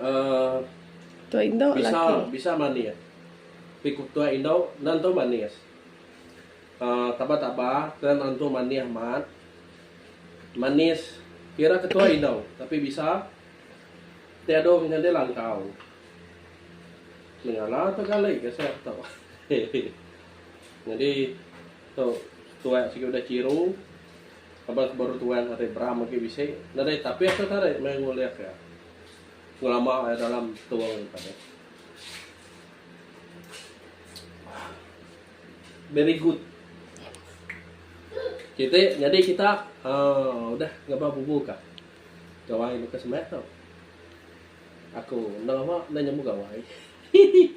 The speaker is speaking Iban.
uhh bisa bisa manis ti ku tua indo nentu manis uhh taba taba ke nentu manis amat manis kira ke tua indo tapi bisa ti adu nyadi langkau mengala tu kali ke se tu hehe nyadi tu tua sigi udah chiru. Laban ke baru tuai ari Bram agi bisi nadai tapih ke tarit meh ngulik iya ngelama iya dalam tung agi padah. Very good. Siti nyadi kita aaa udah ngabah bubu ka. Gawai baka semak tau. Aku enda lama enda nyambung gawai. Hihi.